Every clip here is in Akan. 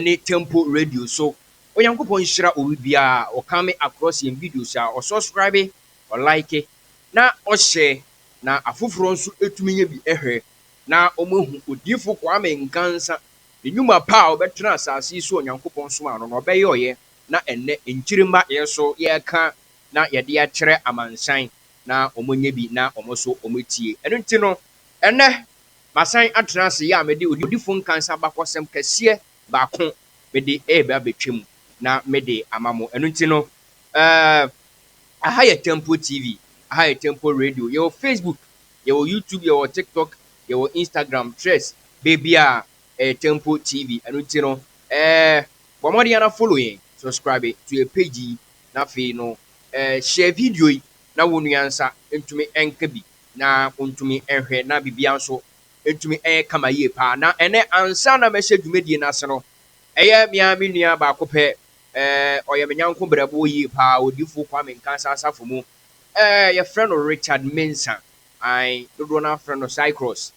ne Temple Radio so. Onyankopɔn nhyira owi biara a ɔcome across yɛn videos a ɔsɔscribe, ɔlike, na ɔhyɛ na afoforɔ nso tumi yɛ bi hwɛ na wɔn ahu Odiyifo Kwame Nkansa ne nnwuma pa a ɔbɛtena asase yi so a Onyankopɔn somaa no na ɔbɛyɔeɛ na ɛnnɛ nkyirimma yɛn so yɛreka na yɛde akyerɛ amansan na wɔn nyɛ bi na wɔn nso wɔn tie. Ɛno nti no ɛnnɛ Masan atra ase yɛ a mede odifo Nkansa abakɔsɛm kɛseɛ baako mede reba abɛtwa mu na mede ama mo. Ɛno nti no, eh, aha yɛ Temple TV, aha yɛ Temple Radio. Yɛwɔ Facebook, yɛwɔ YouTube, yɛwɔ TikTok, yɛwɔ Instagram, Threads, baabiara ɛyɛ Temple TV. Ɛno nti no, eh, bɔ mmɔden ara follow yɛn, subscribe to yɛn page yi, na afei no, eh, share video yi na wo nua nsa ntumi nka bi. Na ontumi nhwɛ na biribiara nso ntumi nyɛ kama yie paa. Na ɛnnɛ, ansa na mɛhyɛ dwumadie no ase no, ɛyɛ me ara me nua baako pɛ, ɛɛ, ɔyɛ me nyɛnko berɛboɔ yie paa, Odiyifoɔ Kwame Nkansah asafo mu, ɛɛ, yɛfrɛ no Richard Mensah, ae, dodoɔ no ara frɛ no Cycros.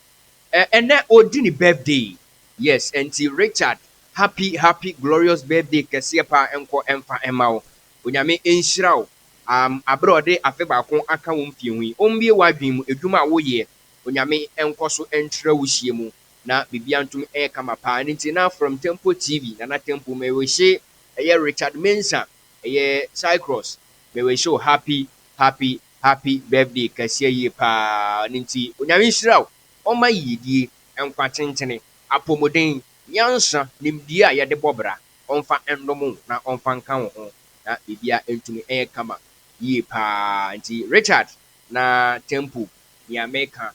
Ɛɛ, ɛnnɛ ɔredi ne birthday, yes, ɛnti Richard, happy, happy, glorious birthday kɛseɛ paa nkɔ mfa mma wo. Onyame nhyira wo Am, aber a ɔde afe baako akã wo mfe ho yi, ombue w'adwen mu, edwuma a woyɛ, Onyame nkɔ so nkyerɛ wo hyia mu, na biribiara ntum nyɛ kama paa. Ɛno ntsi na From Temple TV, Nana Temple, Mewehye ɛyɛ Richard Mensah, ɛyɛ Cycros, mewehye wo happy, happy, happy birthday kɛseɛ yie paa. Ɛno ntsi Onyame nhyira wo, Ɔmma yiyedie, nkwa tentene, apɔmuden, nyansa, nimdie a yɛde bɔ bra, Ɔmfa ndom wo na Ɔmfa nka wo ho. na biribiara antumi anyɛ kama yie pa ara. Nti Richard, na Temple nea meka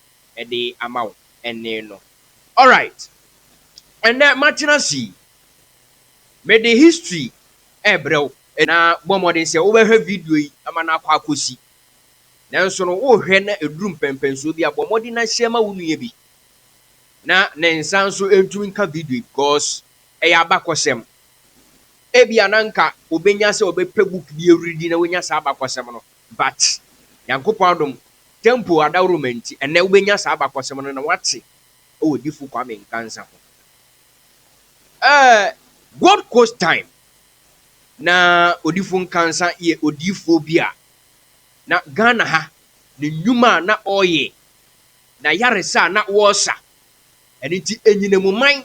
de ama wo ɛnne no. Alright, ɛnnɛ matena ase yi, mede history rebrɛ wo. Na bɔ mmɔden sɛ wobɛhwɛ video yi ama no akɔ akɔsi. Nanso no, worehwɛ na ɛduru mpɛnpɛnsoɔ bi a, bɔ mmɔden na hyɛ ma wo nua bi na ne nsa nso ntumi nka video yi because ɛyɛ abakɔsɛm. Ebia na anka obenya sɛ ɔbɛpɛ book bi awuridi na wanya saa abakɔsɛm no but Nyankopɔn adom, temple adaworoma nti ɛnnɛ wobɛnya saa abakɔsɛm no na woate wɔ Difo Kwame Nkansah ho. Ɛɛ Gold Coast time na Odifo Nkansah yɛ odiyifoɔ bi a na Ghana ha ne nnwuma a na ɔreyɛ, n'ayaresa a na wɔresa, ɛno nti ɛnyinamuman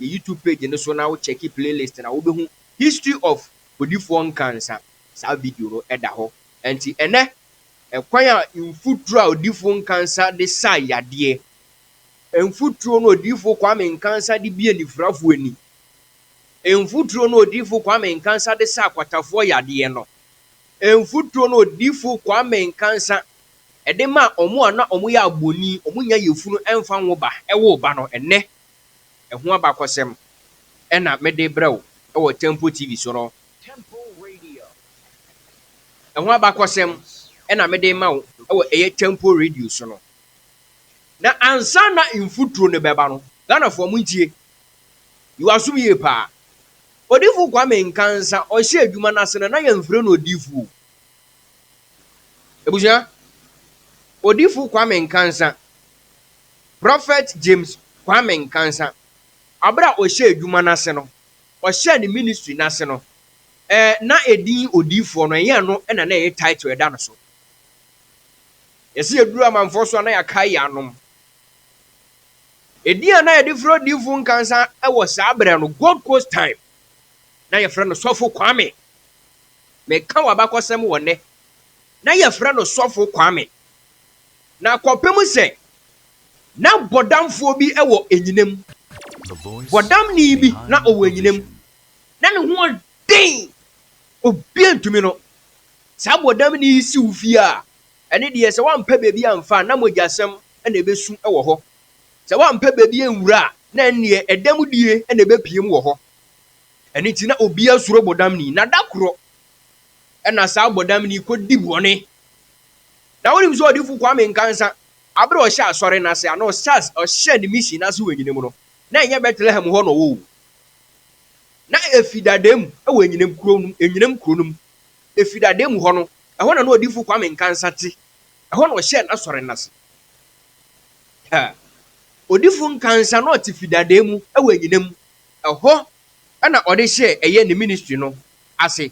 Yɛ YouTube page no so na wo check playlist na wobɛhu History of Kodifoɔ Nkansah. Saa video no da hɔ. Ɛnti ɛnɛ, ɛkwan a mfuturo a Odiyifoɔ Nkansah de saa yadeɛ, mfuturo no Odiyifoɔ Kwame Nkansah de bue anifirafoɔ ani, mfuturo no Odiyifoɔ Kwame Nkansah de saa akwatafoɔ yadeɛ no, mfuturo no Odiyifoɔ Kwame Nkansah ɛde maa wɔn a na wɔyɛ abɔni, wɔn nya yafunu ɛmfa nwo ba, ɛwoo ba no, ɛnɛ Ɛho abakɔsɛm na mede rebrɛ wo wɔ Temple TV so no. Ɛho abakɔsɛm na mede rema wo wɔ ɛyɛ Temple Radio so no. Na ansa na mfuturo no bɛba no, Ghanafoɔ mo ntie, yi w'asom yie paa. Odifo Kwame Nkansa ɔhyɛ adwuma no ase no na yɛmfrɛ no odifo o. Abusua, Odifo Kwame Nkansa Prɔfɛt James Kwame Nkansah, aber a ɔhyɛɛ edwuma no ase no, ɔhyɛɛ ne ministry no ase no, eh, na edin odiyifoɔ no, nnyɛ ɛno na na ɛyɛ title a ɛda no so. Yɛse yɛduru amanfoɔ so a, na yɛakae yɛn anom. Edin a na yɛde frɛ Odiyifo Nkansah wɔ saa berɛ no, Gold Coast time, na yɛfrɛ no Sɔfo Kwame. Meka w'abakɔsɛm wɔ nnɛ, na yɛfrɛ no Sɔfo Kwame. Na kɔpem sɛ na bɔdamfoɔ bi wɔ anyinam, bɔdamni bi na ɔwɔ anyinam, na ne ho ɔden, obiara ntumi no, saa bɔdamni yi si wo fie a, ɛne deɛ sɛ woampɛ baabi amfa a, na mogyasɛm na ɛbɛsu wɔ hɔ. Sɛ woampɛ baabi anwura a, na ɛnneɛ ɛdam die na ɛbɛpiem wɔ hɔ. Ɛno nti na obiara suro bɔdamni. Na da korɔ na saa bɔdamni yi kɔdi bɔne Na wonim sɛ Odiyifo Kwame Nkansah, bere a ɔhyɛɛ Asɔre no ase a na ɔhyɛ ɔhyɛɛ ne mission no ase wɔ Enyinam no, na ɛnyɛ Bethlehem hɔ na ɔwɔ oo, na efi dada mu wɔ Enyinam kurow no mu, Enyinam kurow no mu, efi dada mu hɔ no, ɛhɔ na na Odiyifo Kwame Nkansah te, ɛhɔ na ɔhyɛɛ n'Asɔre no ase. Ha! Odiyifo Nkansah na ɔte fi dada mu wɔ Enyinam, ɛhɔ na ɔde hyɛɛ ɛyɛ ne ministry no ase.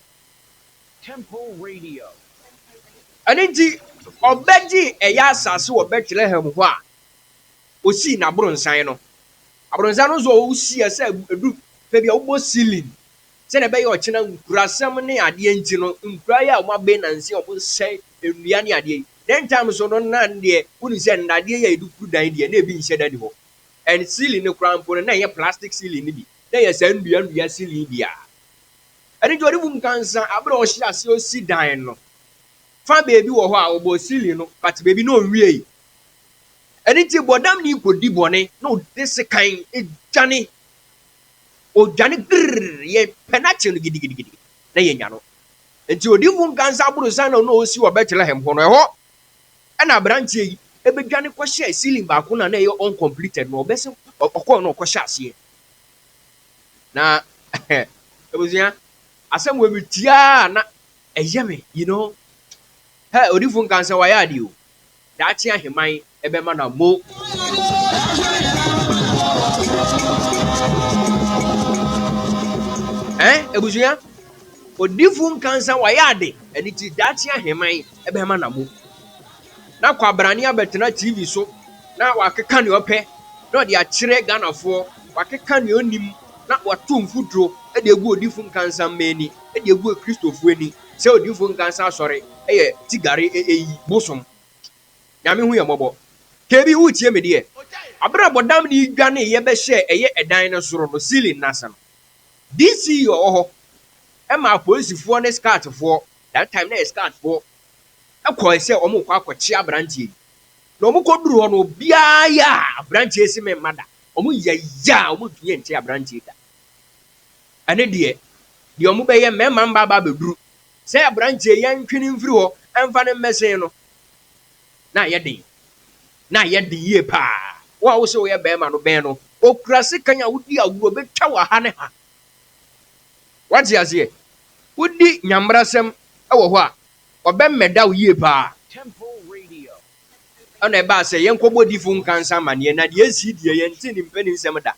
Ɛno nti, ɔbɛgyee ɛyɛ asase wɔ Bɛtlehem hɔ a ɔsii n'aborɔnsan no. Aborɔnsan no nso a ɔsiiɛ sɛ ɛdu fɛ bi a wobɔ ceiling sɛdeɛ ɛbɛyɛ ɔkyena nkurasɛm ne adeɛ nti no, nkura yi a wɔabɛn nnansa yi a wɔsɛe nnua ne adeɛ yi, then time so no na deɛ wonim sɛ nnadeɛ yi a yɛde furu dan deɛ na ebi nhyɛ da nni hɔ. And ceiling no koraa mpo no na ɛnyɛ plastic ceiling no bi, na ɛyɛ saa nnua nnua ceiling yi bi a. Ɛno nti, ɔde mum kansa aber a ɔhyɛɛ ase osi dan no. Fa beebi wɔ hɔ a ɔbɔɔ ceiling no but beebi no onnwiei. Ɛno nti, bɔdamnyi kodi bɔne na ɔde sekan dwane. Odwane grrr, yɛpɛ n'akyen no gidigidigidi na yenya no. Ntsi odiyifo nkansa aborsan na nna osi wɔ Bethlehem hɔ no, ɛhɔ na aberantsɛ yi bedwane kɔhyɛɛ ceiling baako no a nna ɛyɛ uncompleted no, ɔbɛsen ɔkɔr na ɔkɔhyɛɛ aseɛ. Na abusua, asɛm wei me tie a na ɛyɛ me, you know. Hɛ, odifo nka sɛ wayɛ ade o. Daakye aheman ɛbɛma na mo. Ɛ, abusua, odifo nka sɛ wayɛ ade, ɛne ti daakye aheman ɛbɛma na mo. na kwabrane abɛtena TV so na wakeka nea ɔpɛ na ɔde akyerɛ Ghanafoɔ, wakeka nea ɔnnim na wato mfuturo de agu Odifo Nkansah-mma ani, de agu Akristofoɔ ani sɛ Odifo Nkansah Asɔre yɛ tigare ɛyi, bosom. Nyame hu yɛn mmɔbɔ. KB woretie me deɛ? Aberɛ a Bɔdam no dwaneeɛ bɛhyɛɛ ɛyɛ ɛdan no soro no, ceiling no ase no, DC ɔwɔ hɔ maa Apolisifoɔ ne Scoutsfoɔ, that time na ɛyɛ Scoutsfoɔ, kɔe sɛ wɔrekɔ akɔkyea aberanteɛ yi. Na wɔkɔduruu hɔ no, obiara yeaa aberanteɛ yi se memma da. Wɔyeyaa a wɔntumi ante aberanteɛ yi da. Ɛne deɛ, deɛ wɔbɛyɛ, mmarima mma aba abɛduru sɛ aberanteɛ yi ntwe no mfiri hɔ mfa no mmɛsen no, na ayɛ den. Na ayɛ den yie paa. Wo a wose woyɛ barima no, bɛn no. Ɔkura sekan a wodi agorɔ, ɔbɛtwa wo ha ne ha. Woate aseɛ? Wodi Nyame mmara sɛm wɔ hɔ a, Ɔbɛmmɛda wo yie paa. Ɛna ɛbaa sɛ yɛnkɔbɔ difo nkansa amaneɛ na deɛ ɛsii deɛ yɛnte ne mpani nsɛm da.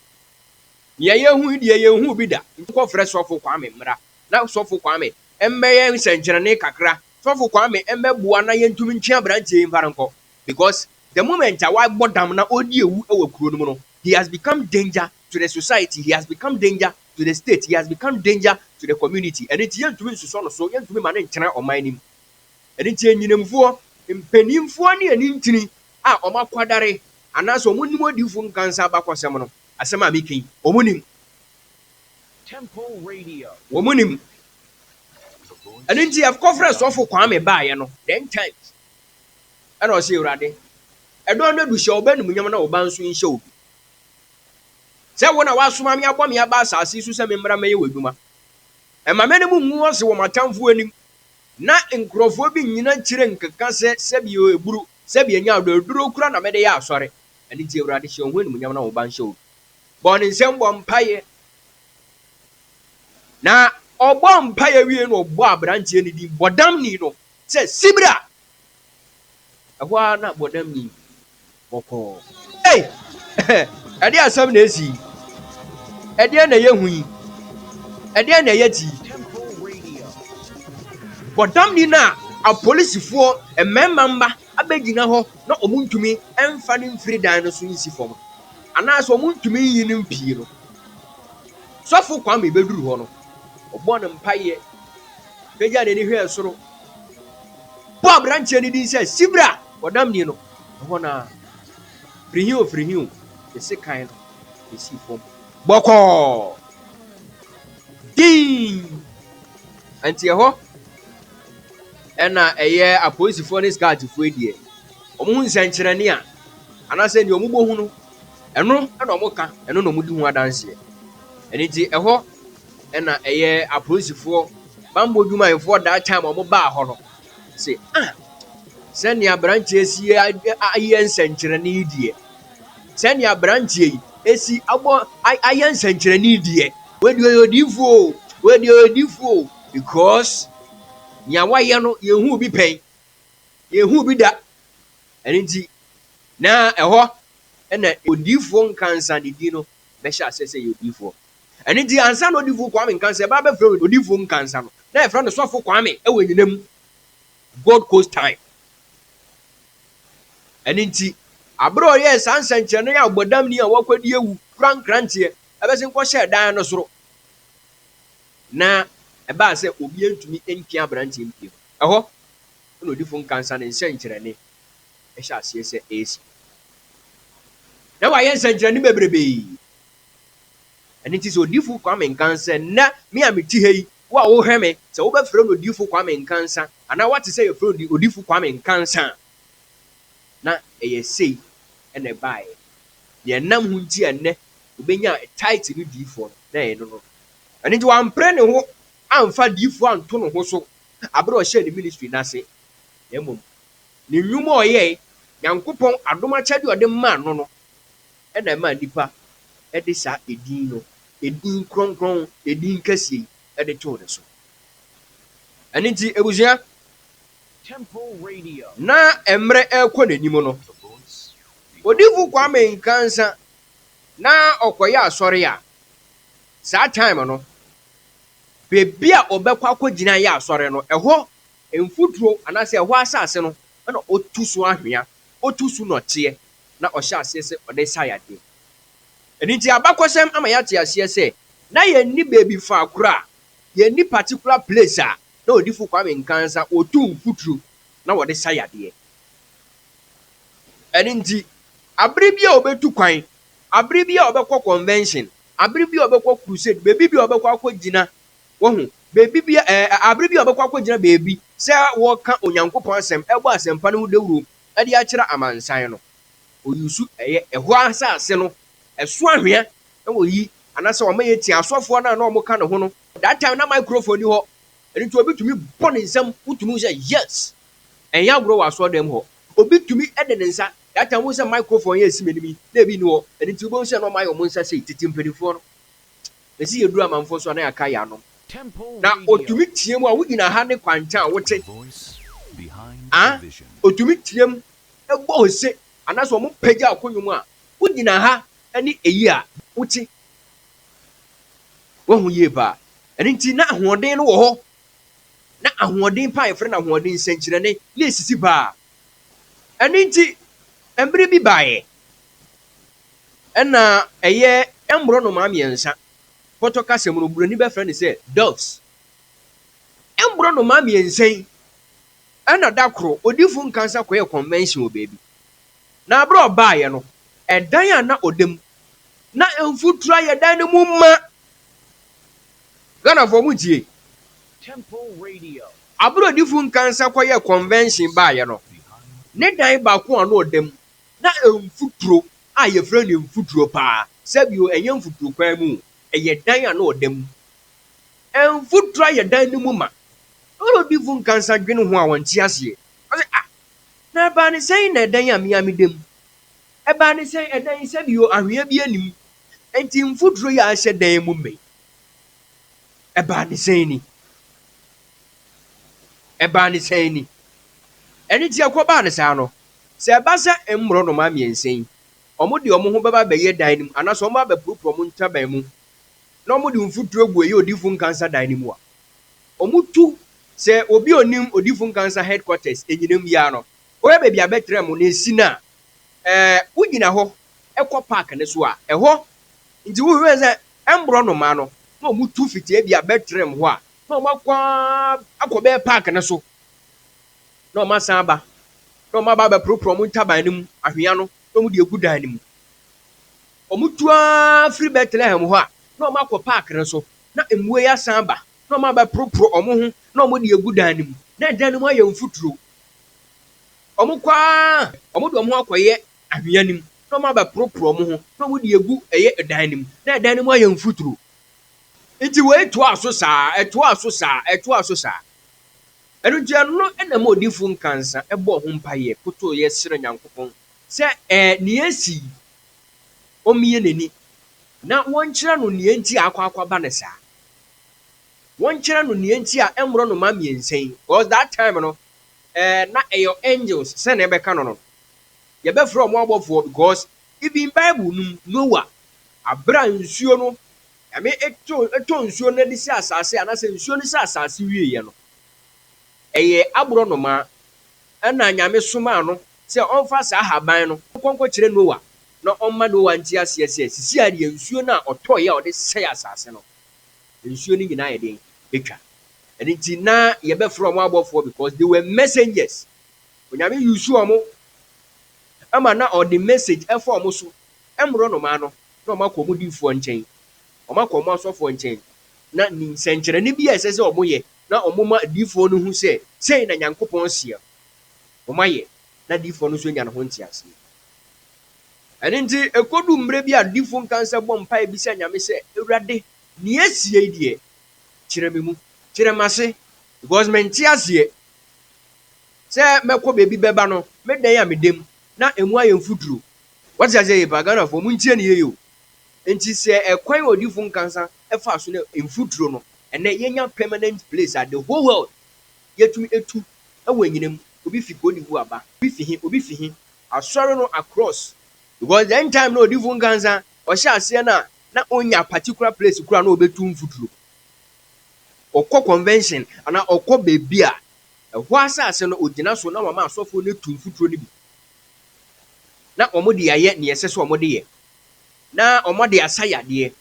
Nea yɛhu deɛ yɛnhuu bi da. Nti kɔfrɛ Sɔfo Kwame mmra na Sɔfo Kwame mmɛyɛ nsɛnkyerɛnne kakra. Sɔfo Kwame mmɛboa na yɛntumi ntwe aberanteɛ yi mfa no nkɔ because the moment a wabɔ dam na ɔredi awu wɔ kuro no mu no, he has become danger to the society, he has become danger to the state, he has become danger to the community. Ɛno nti yɛntumi nsosɔ no so, yɛntumi ma no ntena ɔman no mu. Ɛno nti anyinamfoɔ, mpanimfoɔ ne anintini a wɔakwadare anaasɛ wɔnnim odiyifoɔ nkansa abakɔsɛm no, asɛm a meka yi, wɔnim. Wɔnim. Ɛno nti yɛkɔfrɛɛ sɔfo Kwame baeɛ no, then times, ɛna ɔse, Awurade, ɛdɔn no adu, hyɛ wo ba animuonyam na wo ba nso nhyɛ wo bi. sɛ wo na woasoma me abɔ me aba asase yi so sɛ memmra mmɛyɛ w'adwuma. Mma m'anim ngu ase wɔ m'atamfo anim, na nkurɔfoɔ bi nnyina akyire nkeka sɛ, 'Sɛdeɛ aburo, sɛdeɛ nyaado aduro kura na mede yɛ asɔre. Ɛno nti, Awurade, hyɛ wo ho animuonyam na wo ba nhyɛ wo mu. Bɔɔ ne nsam bɔɔ mpaeɛ, na ɔbɔɔ mpaeɛ wiei na ɔbɔɔ aberanteɛ no din, Bɔdamni no, sɛ, Sibra! Ɛhɔ ara na Bɔdamni bɔkɔɔ. Ei! Ɛdeɛn asɛm na asi yi? Ɛdeɛn na ɛyɛ hu yi? Ɛdeɛn na ɛyɛ te yi? Bɔdamni no a apolisifoɔ mmarima mma abɛgyina hɔ na wɔntumi mfa no mfiri dan no so nsi fam anaasɛ wɔntumi nyi no mpue no, Sɔfo Kwame bɛduru hɔ no, ɔbɔɔ no mpaeɛ, pagyaa n'ani hwɛɛ soro, bɔɔ aberanteɛ no din sɛ Sibra, bɔdamni no. Ɛhɔ no ara, firihiw firihiw ne sekan no besii fam bɔkɔɔ dinn. Ɛnteɛ hɔ na ɛyɛ apolisifoɔ ne Scoutfoɔ deɛ wɔhu nsɛnkyerɛnne a anaasɛ deɛ wɔbɔ hu no, ɛno na wɔka, ɛno na wɔdi ho adanseɛ. Ɛno nti ɛhɔ na ɛyɛ apolisifoɔ bammɔ dwumayɛfoɔ that time wɔbaa hɔ no, se, Ah, sɛnea aberanteɛ si ayɛ nsɛnkyerɛnne yi deɛ, sɛnea aberanteɛ yi esi abɔ ayɛ nsɛnkyerɛnne yi deɛ, wɔde ɔyɛ odiifoɔ o, wɔde ɔyɛ odiifoɔ o, because nea wayɛ no yɛhu bi pɛn, yɛhu bi da. Ɛno nti, na ɛhɔ na odiifoɔ nkansa ne din no bɛhyɛ aseɛ sɛ ɛyɛ odiyifoɔ. Ɛno nti, ansa na Odifo Kwame Nkansah ɛbɛ abɛfrɛ no Odifo Nkansah no, na yɛfrɛ no Sɔfo Kwame wɔ anyina mu, Gold Coast time. Ɛno nti, bere a ɔyɛɛ saa nsɛnkyerɛnne yi a ɔbɔdamni a wakɔdi awu kura nkranteɛ bɛsen kɔhyɛɛ dan no soro, na ɛbaa sɛ obiara ntumi mpia aberanteɛ mpie no, ɛhɔ na Odifo Nkansah ne nsɛnkyerɛnne hyɛ aseɛ sɛ ɛresi. Ná wayɛ nsɛnkyerɛnne bebrebe. Ɛno nti sɛ Odiyifo Kwame Nkansah, nnɛ me a mete ha yi, wo a wohwɛ me, sɛ wobɛfrɛ no Odiyifo Kwame Nkansah, anaa woate sɛ yɛfrɛ no Odiyifo Kwame Nkansah a, na ɛyɛ sei na ɛbaeɛ. Deɛ ɛnam ho nti a nnɛ ɔbɛnyaa title no Diyifoɔ no, na ɛyɛ ɛno no. Ɛno nti wampere ne ho amfa diyifoɔ anto ne ho so berɛ a ɔhyɛɛ ne ministry no ase, na mmom Ne nnwuma a ɔyɛe, Nyankopɔn adom akyɛde a ɔde maa no no na ɛmaa nnipa de saa edin no, edin kronkron, edin kɛseɛ yi de too ne so. Ɛno nti, abusua, na mmerɛ rekɔ n'anim no, Odifo Kwame Nkansa na ɔkɔyɛ asɔre a, saa time no, baabi a ɔbɛkɔ akɔgyina ayɛ asɔre no, ɛhɔ Mfuturo anaasɛ ɛhɔ asase no na ɔtu so anhwea, ɔtu so nnɔteɛ, na ɔhyɛ aseɛ sɛ ɔde resa yadeɛ. Ɛno nti abakɔsɛm ama yɛate aseɛ sɛ na yɛnni baabi faakoro a, yɛnni particular place a na Odifo Kwame Nkansah ɔtu mfuturo na ɔde sa yadeɛ. Ɛno nti abere biara a ɔbɛtu kwan, abere biara a ɔbɛkɔ convention, abere biara a ɔbɛkɔ crusade, baabi biara a ɔbɛkɔ akɔgyina Wahu, baabi bi, ɛ, abere bi a ɔbɛkɔ akɔgyina baabi sɛ ɔreka Onyankopɔn Asɛm, ɛrebɔ asɛmpa no ho dawuro de akyerɛ amansan no. Ɔyusu ɛyɛ, ɛhɔ ara sɛ ase no, ɛso anhwea, na wɔyi, anaasɛ wɔma yɛtie asɔfoɔ no a na wɔka ne ho no. That time na microphone nni hɔ, ɛno nti obi tumi bɔ ne nsam, wotumi hu sɛ, yes! Ɛnyɛ agorɔ wɔ asɔredan mu hɔ. Obi tumi de ne nsa, that time wohu sɛ microphone yi a ɛsi m'anim yi, na ebi nni hɔ, ɛno nti wobɛhu sɛ na wɔayɛ wɔn nsa sei, tete mpanimfoɔ no. Bɛsi yɛduru amanfoɔ so a na yɛaka yɛn ano. Na ɔtumi team a wogyina ha ne kwankyɛn a wote a ɔtumi team bɔ ose anaasɛ wɔn pagya ɔko nnwom a wogyina ha ne ɛyi a wote. Wahu yie paa. Ɛno nti na ahoɔden no wɔ hɔ. Na ahoɔden paa yɛfrɛ no ahoɔden nsɛnkyerɛnne na ɛsisi paa. Ɛno nti mmerɛ bi baeɛ. Ɛna ɛyɛ mborɔnomaa mmiɛnsa. Pɔtɔ kasa mu no, Buroni bɛfrɛ no sɛ doves. Mborɔnomaa mmiɛnsa yi, ɛna da koro, odifo Nkansah kɔyɛɛ convention wɔ baabi. Na bere a ɔbaeɛ no, ɛdan a na ɔda mu, na mfuturo ayɛ dan no mu ma. Ghanafoɔ, montie. Temple Radio. Abere a odifo Nkansah kɔyɛɛ convention baeɛ no, ne dan baako a na ɔda mu, Na mfuturo a yɛfrɛ no mfuturo paa, sɛbio ɛnyɛ mfuturo kwan mu o, ɛyɛ dan a na ɔda mu. Mfuturo ayɛ dan no mu ma. Ɔna odifo nkansa dwene ho a ɔnte aseɛ. Ɔse ah, na ɛbaa ne sɛn na ɛdan a me ara meda mu? Ɛbaa ne sɛn ɛdan yi sɛbio anhwea biara nni mu, nti mfuturo yi a ahyɛ dan mu ma yi ɛbaa ne sɛn ni? Ɛbaa ne sɛn ni? Ɛno nti ɛkɔbaa no saa no, Sɛ ɛba sɛ mmorɔnoma mmiɛnsa yi, wɔde wɔn ho bɛba abɛyɛ dan no mu, anaasɛ wɔba bɛporoporo wɔn ntaban mu, na wɔde mfuturo gu ɛyɛ odiyifo nkansa dan no mu a, wɔtu sɛ obi a onim odiyifo nkansa headquarters anyinam yi ara no, ɔyɛ baabi a bɛtra mu, na esi no a, ɛɛ, wogyina hɔ kɔ park no so a, ɛhɔ nti wohwɛ sɛ mmorɔnoma no, na wɔtu fiti ebi a bɛtra mu hɔ a, na wɔakɔ ara akɔ bɛyɛ park no so. na wɔasan aba, na wɔaba abɛporoporow wɔn ntaban no mu anhwea no, na wɔde agu dan no mu. Wɔtu ara firi Betlehem hɔ a, na wɔakɔ park no so, na mmoa yi asan aba, na wɔabɛporoporow wɔn ho, na wɔde agu dan no mu. Na dan no mu ayɛ mfuturo. Wɔkɔ ara, wɔde wɔn ho akɔyɛ anhwea no mu, na wɔabɛporoporow wɔn ho, na wɔde agu ɛyɛ dan no mu. Na dan no mu ayɛ mfuturo. Nti wei toaa so saa, ɛtoaa so saa, ɛtoaa so saa. Ɛno nti, ɛno na ɛma odiyifo nkansa bɔɔ ho mpaeɛ kotoeɛ srɛɛ Nyankopɔn sɛ ɛɛ nea asi yi, ɔmmue n'ani na wɔnkyerɛ no nea nti a akɔ akɔba no saa. Wɔnkyerɛ no nea nti a mmorɔnoma mmiɛnsa yi, because that time no, ɛɛ na ɛyɛ angels sɛ na ɛbɛka no no. Yɛbɛfrɛ wɔn abɔfoɔ because even Bible no mu, Noah, berɛ a nsuo no Nyame too tɔɔ nsuo no adi sɛ asase anasɛ nsuo no sɛ asase wieɛ no ɛyɛɛ aborɔnomaa ɛna Nyame somaa no sɛ ɔmfa saa haban no nkɔ nkɔkyerɛ Noa na ɔmma Noa nte aseɛ sɛ sisi ara deɛ nsuo no a ɔtɔeɛ a ɔde sɛe asase no nsuo no nyinaa ayɛ den atwa ɛno nti na yɛbɛfrɛ wɔn abɔfoɔ because they were messengers Onyame use wɔn ma na ɔde message ɛfa wɔn so Ɛmmoro nnomaa no na wɔakɔ wɔn difoɔ nkyɛn, wɔakɔ wɔn asɔfoɔ nkyɛn, na ni nsɛnkyerɛnne bi a ɛsɛ sɛ wɔyɛ na wɔma difoɔ no hu sɛ sei na Nyankopɔn seɛ, wɔayɛ na difoɔ no nso anya ne ho nteaseɛ. Ɛno nti ɛkɔdu mmerɛ bi a difoɔ nkansa bɔ mpaeɛ bisa Nyame sɛ, Awurade, nea asie yi deɛ, kyerɛ me mu, kyerɛ m'ase, because mente aseɛ sɛ mɛkɔ baabi bɛba no, meda yi a meda mu na ɛmu ayɛ mfuturo, Wate aseɛ yie paa Ghanafoɔ mo ntie no yie o nti sɛ ɛkwan a odiifo nkansa ɛfaa so ne mfuturo no ɛnɛ yɛnya permanent place a the whole world yɛtumi ɛtu ɛwɔ ɛnyina mu obi fi Côte d'Ivoire ba obi fi he obi fi he asɔre no across because the end time no odiifo nkansa ɔhyɛ aseɛ no a na ɔnya particular place kora na ɔbɛtu mfuturo ɔkɔ convention anaa ɔkɔ baabi a ɛhɔ asase no ɔgyina so na wama asɔfoɔ no ɛtu mfuturo no bi na wɔde ayɛ nea ɛsɛ sɛ wɔde yɛ, na wɔde asa yadeɛ,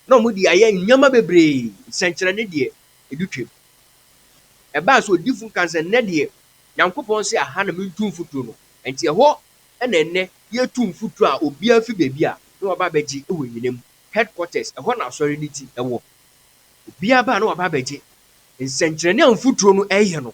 na wɔde ayɛ nneɛma bebree, nsɛnkyerɛnne deɛ, ɛdi twam. Ɛbaa sɛ odiyifoɔ no kaa sɛ, Nnɛ deɛ, Nyankopɔn se aha na mentu mfuturo no, enti ɛhɔ na ɛnnɛ yɛretu mfuturo a obiara fi baabi a na waba abɛgye wɔ nyina mu, headquarters, ɛhɔ na asɔre no ti wɔ. Obiara ba a na waba abɛgye nsɛnkyerɛnne a mfuturo no reyɛ no,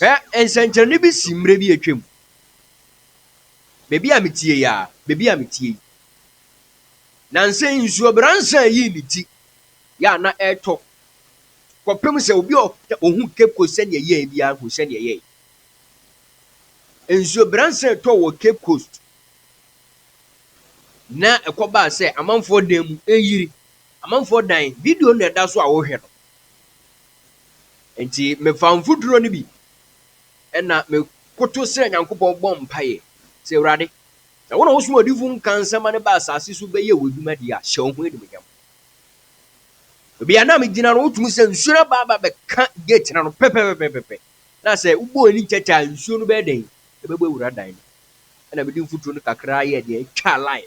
Hwɛ nsɛnkyerɛnne bi si mmerɛ bi atwa mu. Baabi a metie yi a, baabi a metie yi. Nansa yi nsuo bransa yii ne ti yɛ a na ɛretɔ kɔpem sɛ obi a ɔhu Cape Coast sɛdeɛ ɛyɛɛ biara hu sɛdeɛ ɛyɛɛ. Nsuo bransa ɛtɔ wɔ Cape Coast na ɛkɔbaa sɛ amanfoɔ dan mu ɛyiri. Amanfoɔ dan, video na ɛda so a wohwɛ no. Enti mefaa mfuturo no bi na mekoto srɛɛ Nyankopɔn bɔɔ mpaeɛ sɛ, Awurade, sɛ wo na wosoma odiyifoɔ nka nsɛm ma no ba asase so bɛyɛ w'adwuma deɛ a, hyɛ wo ho animuonyam. Baabi a na megyina no, wotumi sɛ nsuo no aba aba bɛka gate no ano pɛpɛpɛpɛpɛ na sɛ wobɔ w'ani nkyɛkyɛ a nsuo no bɛyɛ dɛn? Ɛbɛbɔ awura dan no. Ɛna mede mfuturo no kakra yɛɛ deɛ ɛtwa line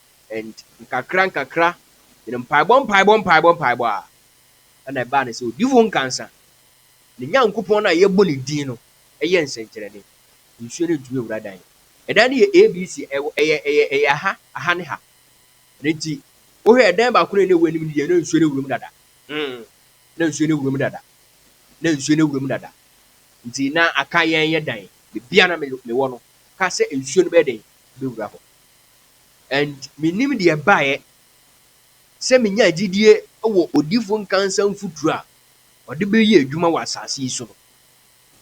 and nkakra nkakra ne mpaebɔ mpaebɔ mpaebɔ mpaebɔ a ɛna ɛbaa ne sɛ odifo nkansa ne Nyankopɔn no a yɛbɔ ne din no yɛ nsɛnkyerɛnne nsuo no ntumi nwura dan ɛdan no yɛ ABC ɛwɔ ɛyɛ ɛyɛ ɛyɛ aha aha ne ha ɛno nti wohwɛ ɛdan baako no a ɛna ɛwɔ anim no deɛ na nsuo no wuram dada mm na nsuo no wuram dada na nsuo no wuram dada nti na aka yɛn yɛ dan bebia na mewɔ no ka sɛ nsuo no bɛyɛ den bɛwura hɔ. And menim deɛ ɛbaeɛ sɛ menyaa gyidie wɔ odifo nkansa mfuturo a ɔde bɛyɛ adwuma wɔ asase yi so no.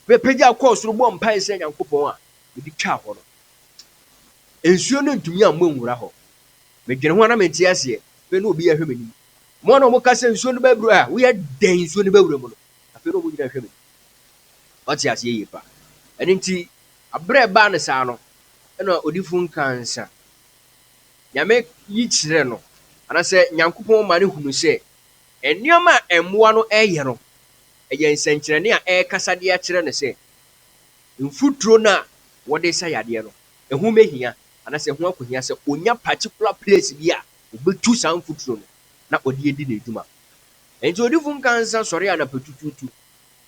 Mepagya kɔɔ soro bɔɔ mpaeɛ srɛɛ Nyankopɔn a mede twaa hɔ no. Nsuo no ntumi ammɔ anwura hɔ. Medwene ho a na mente aseɛ. Afei na obi rehwɛ m'anim. Wɔn a wɔka sɛ nsuo no bɛboro a, woyɛ dɛn nsuo no bɛwura mu no? Afei na wɔn nyinaa rehwɛ m'anim. Wate aseɛ yie paa. Ɛno nti, Aberɛ a ɛbaa no saa no, ɛna odifo no kaa nsa. Nyame yi kyerɛ no, anaasɛ Nyankopɔn ma no hunu sɛ, nneɛma a mmoa no reyɛ no, ɛyɛ nsɛnkyerɛnne a ɛrekasa de akyerɛ no sɛ, mfuturo no a wɔde resa yadeɛ no, ɛho bɛhia, anaasɛ ɛho akɔhia sɛ ɔnya particular place bi a ɔbɛtu saa mfuturo no na ɔde adi n'adwuma. Enti odifo no kaa nsa sɔree anapa tutuutu.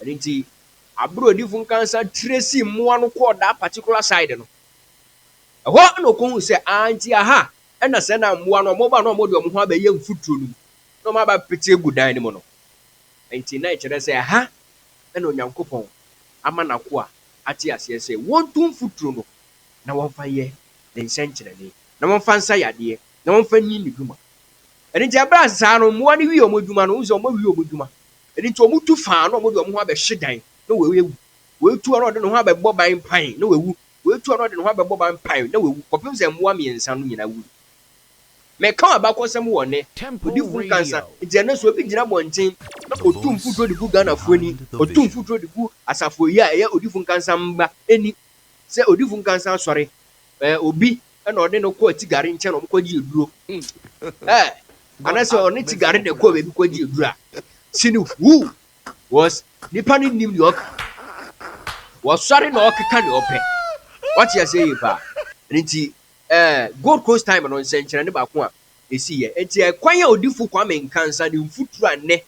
Ɛno nti, abere a odiyifo Nkansa tresee mmoa no kɔɔ that particular side no, ɛhɔ na okohui sɛ, ah, nti aha na sɛ na mmoa no wɔba na wɔde wɔn ho abɛyɛ mfuturo no mu na wɔaba abɛpete agu dan no mu no. Enti na ɛkyerɛ sɛ ɛha na Onyankopɔn ama n'akoa ate aseɛ sɛ wɔntu mfuturo no na wɔmfa nyɛ ne nsɛnkyerɛnne, na wɔmfa nsa yadeɛ, na wɔmfa nni ne dwuma. Ɛno nti, ɛbaa saa no, mmoa no wiee wɔn adwuma no, wohu sɛ wɔawie wɔn adwuma, Ɛno nti wɔtu faa na wɔde wɔn ho abɛhye dan na wɔawu. Wɔatu a na ɔde ne ho abɛbɔ ban pan na wawu. Wɔatu a na ɔde ne ho abɛbɔ ban pan na wawu kɔpem sɛ mmoa mmiɛnsa no nyinaa wui. Meka abakɔsɛm wɔ nnɛ. Odifo Nkansah, nti ɛnnɛ sɛ obi gyina abɔnten na ɔtu mfuturo de gu Ghanafoɔ ani, ɔtu mfuturo de gu Asafo yi a ɛyɛ Odifo Nkansah mma ani sɛ Odifo Nkansah asɔre, ɛɛ, obi Ɛna ɔne no kɔ atigare nkyɛn na wɔkɔgye aduro. Ɛɛ, anasɛ ɔne tigare na ɛkɔ baabi kɔgye aduro a, sini hu, wɔs nipa no nnim deɛ ɔka. Wɔsɔre na ɔkeka deɛ ɔpɛ. Wate aseɛ yie paa. Ɛno nti, ɛɛ, Gold Coast time no nsɛnkyerɛnne baako a ɛsiiɛ. Ɛnti ɛkwan a Odifo Kwame Nkansa ne mfuturo a nnɛ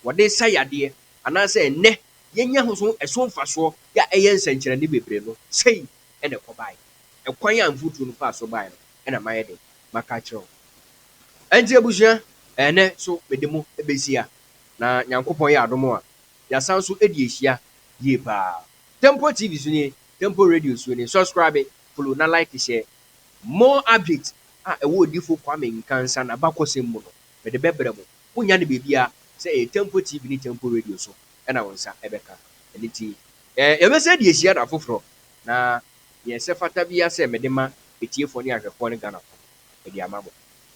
wɔde sa yadeɛ anaasɛ nnɛ yɛnya ho so ɛso mfasoɔ yɛ a ɛyɛ nsɛnkyerɛnne bebree no, sei na ɛkɔbaeɛ. Ɛkwan a mfuturo no faa so baeɛ no na mayɛ dɛn? Maka akyerɛ wo. Ɛnti abusua, ɛnnɛ so mede mo bɛhyia, na Nyankopɔn yɛ adom a, yɛasan nso adi ahyia yie paa. Temple TV so nie, Temple Radio so nie. Subscribe, follow na like hyɛ. More updates a ɛwɔ Odifo Kwame Nkansah n'abakɔsɛm mu no, mede bɛbrɛ mo. Wonnya no baabiara, sɛ ɛyɛ Temple TV ne Temple Radio so na wo nsa bɛka. Ɛno nti, Na yɛbɛsan de asi ada foforɔ. Na deɛ ɛsɛ fata biara sɛ mede ma atiefoɔ ne ahwɛfoɔ ne Ghanafoɔ no, mede ama mo.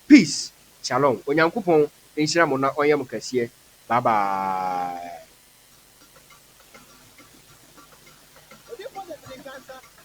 Peace, Shalom, Onyankopɔn nhyira mo na ɔnyɛ mo kɛseɛ, bye bye.